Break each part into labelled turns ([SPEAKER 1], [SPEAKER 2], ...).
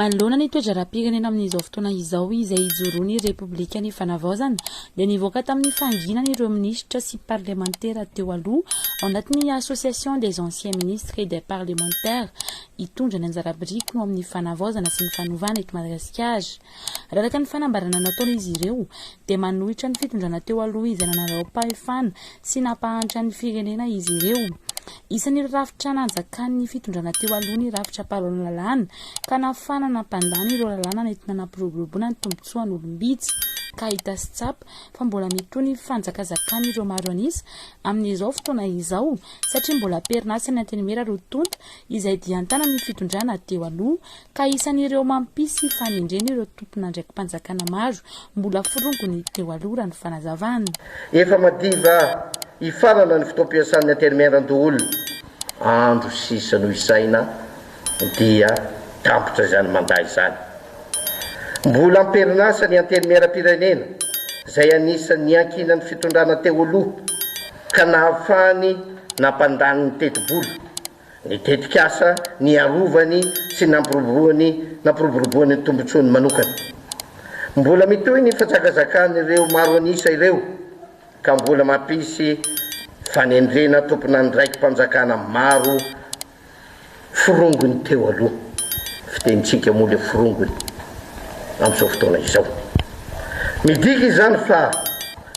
[SPEAKER 1] Manoloana ny toe-draharaham-pirenena amin'izao fotoana izao izay ijoroan'ny Repoblika ny Fanavaozana dia nivoaka tamin'ny fahanginana ireo minisitra sy parlemantera teo aloha ao anatin'ny Association des anciens ministres et des parlementaires hitondra ny anjara birikiny ao amin'ny fanavaozana sy ny fanovana eto Madagasikara. Araka ny fanambarana nataon'izy ireo dia manohitra ny fitondrana teo aloha izay nanarao-pahefana Tsy nampahantra ny firenena izy ireo. Isan'ireo rafitra nanjakan'ny fitondrana teo aloha ny rafitra mpanao lalàna, ka nafahana nampandany ireo lalàna nentina nampiroboroboana ny tombontsoan'olom-bitsy, ka hita sy tsapa fa mbola mitohy ny fanjakazakan'ireo maro an'isa amin'izao fotoana izao, satria mbola am-perinasa ny Antenimiera roa tonta izay dian-tanan'ny fitondrana teo aloha, ka isan'ireo mampisy fanendrena ireo tompon'andraiki-panjakana maro mbola forongony teo aloha, raha ny fanazavana. Efa madiva
[SPEAKER 2] hifarana ny fotoam-piasan'ny Intérimaire an-doholona, andro sisa no isaina dia tampitra izany mandat izany. Mbola am-perinasa ny Intérimaire-am-pirenena izay anisan'ny niankinan'ny fitondrana teo aloha ka nahafahany nampandany ny tetibola Ny tetikasa niarovany sy nampiroboroany nampiroboroboany ny tombontsoany manokana. Mbola mitohy ny fizakazakan'ireo maro an'isa ireo ka mbola mampisy fanendrena tomponandraiki-panjakana maro forongony teo aloha, fitenintsika moa ilay forongony amin'izao fotoana izao. Midika izany fa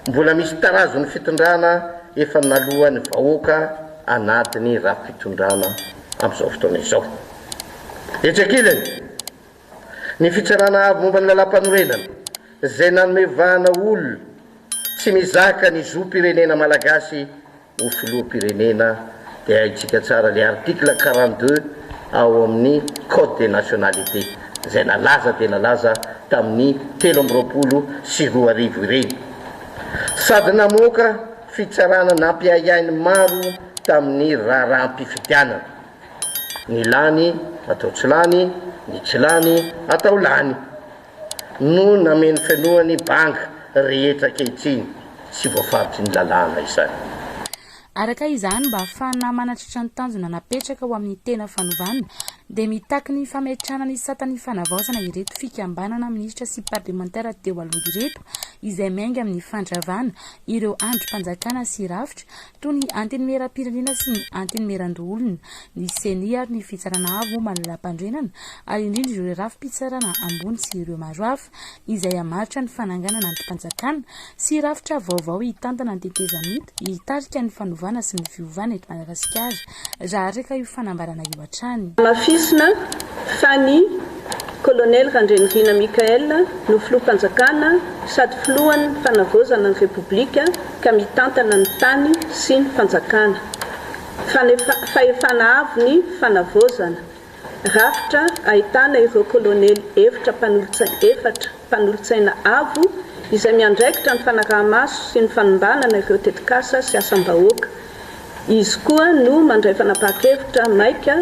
[SPEAKER 2] mbola misy tarazon'ny fitondrana efa naloan'ny vahoaka. anatin'ny rafi-pitondrana amin'izao fotoana izao. Etsy ankilany, ny Fitsarana Avo momba ny Lalàmpanorenana, izay nanome vahana olona tsy mizaka ny zom-pirenena malagasy ho filoham-pirenena, dia haintsika tsara ilay article quarante deux ao amin'ny Code des nationalités, izay nalaza dia nalaza tamin'ny telo amby roapolo sy roa arivo ireny, sady namoaka. Fitsarana nampiahiahy ny maro tamin'ny raharaham-pifidianana. Ny lany atao tsy lany, ny tsy lany atao lany, no namenofenohany banga rehetra ankehitriny. Tsy voafaritry ny lalàna izany. Araka
[SPEAKER 1] izany, mba hahafahana manatratra ny tanjona napetraka ho amin'ny tena fanovana, dia mitaky ny fametrahana ny satan'ny fanavaozana ireto fikambanana minisitra sy parlemantera teo aloha ireto izay miainga amin'ny fandravana ireo andrim-panjakana sy rafitra toy ny antenimieram-pirenena sy ny antenimieran-doholona, ny ceni ary ny fitsarana avo momba ny lalam-panorenana ary indrindra ireo rafi-pitsarana ambony sy ireo maro hafa. Act izay hamaritra ny fananganana andrim-panjakana sy rafitra vaovao hitantana ny tetezamita hitarika ny fanovana sy ny fiovana eto Madagasikara, raha araka io fanambarana io hatrany. Hamafisina
[SPEAKER 3] fa ny Kolonely Randrianirina Michael no Filoham-panjakana sady Filohan'ny Fanavaozana ny Repoblika ka mitantana ny tany sy ny fanjakana. Fahefana avo ny Fanavaozana. Rafitra ahitana ireo kolonely eftra mpanolotsaina efatra mpanolotsaina avo izay miandraikitra ny fanaraha-maso sy ny fanombanana ireo tetikasa sy asam-bahoaka. Izy koa no mandray fanapahan-kevitra maika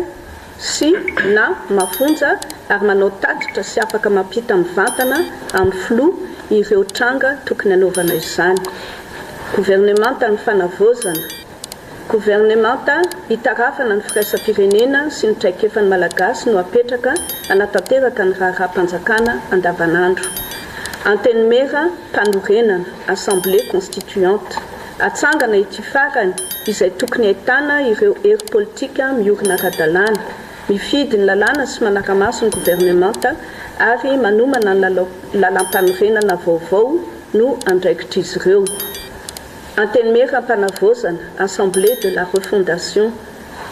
[SPEAKER 3] sy na mafonja ary manao tatitra sy afaka mampita mivantana amin'ny Filoha ireo tranga tokony hanaovana izany. Governemantan'ny Fanavaozana. Governemanta hitarafana ny firaisam-pirenena sy ny traikefan'ny Malagasy no apetraka hanatanteraka ny raharaham-panjakana andavanandro. Antenimiera, Mpanorenana, Assemblée constituante. Atsangana ity farany izay tokony ahitana ireo hery politika miorina ara-dalàna, mifidy ny lalàna sy manara-maso ny governemanta ary manomana ny lalao lalàmpanorenana vaovao no andraikitr'izy ireo. Antenimiera Ampanavaozana, Assemblée de la Refondation,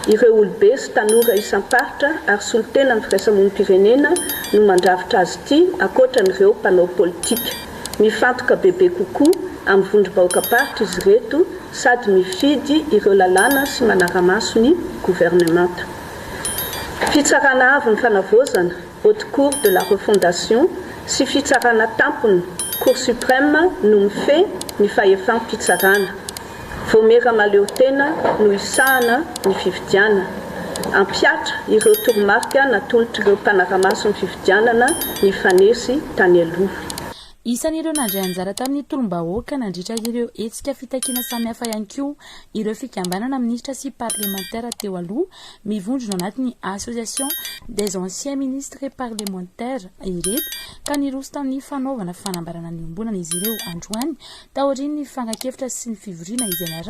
[SPEAKER 3] ireo olobe sy tanora isam-paritra ary solontenan'ny firaisamonim-pirenena no mandrafitra azy ity ankoatra an'ireo mpanao politika. Mifantoka bebe kokoa amin'ny vondrom-bahoakam-paritra izy ireto sady mifidy ireo lalàna sy manara-maso ny governemanta. Fitsarana avo ny fanavaozana. Haute Cour de la Refondation, sy Fitsarana Tampony, Cour Suprême, no mifehy ny fahefam-pitsarana. Vaomiera mahaleotena no hisahana ny fifidianana. Hampihatra ireo toromarika natolotr'ireo mpanara-maso ny fifidianana nifanesy tany aloha.
[SPEAKER 1] Isan'ireo nandray anjara tamin'ny tolom-bahoaka nandritra ireo hetsika fitakiana samihafa ihany koa ireo fikambanana minisitra sy parlemantera teo aloha mivondrona anatin'ny Association des anciens ministres et parlementaires ireto ka niroso tamin'ny fanaovana fanambarana niombonana izy ireo androany taorian'ny fankakevitra sy ny fivoriana izay niaraha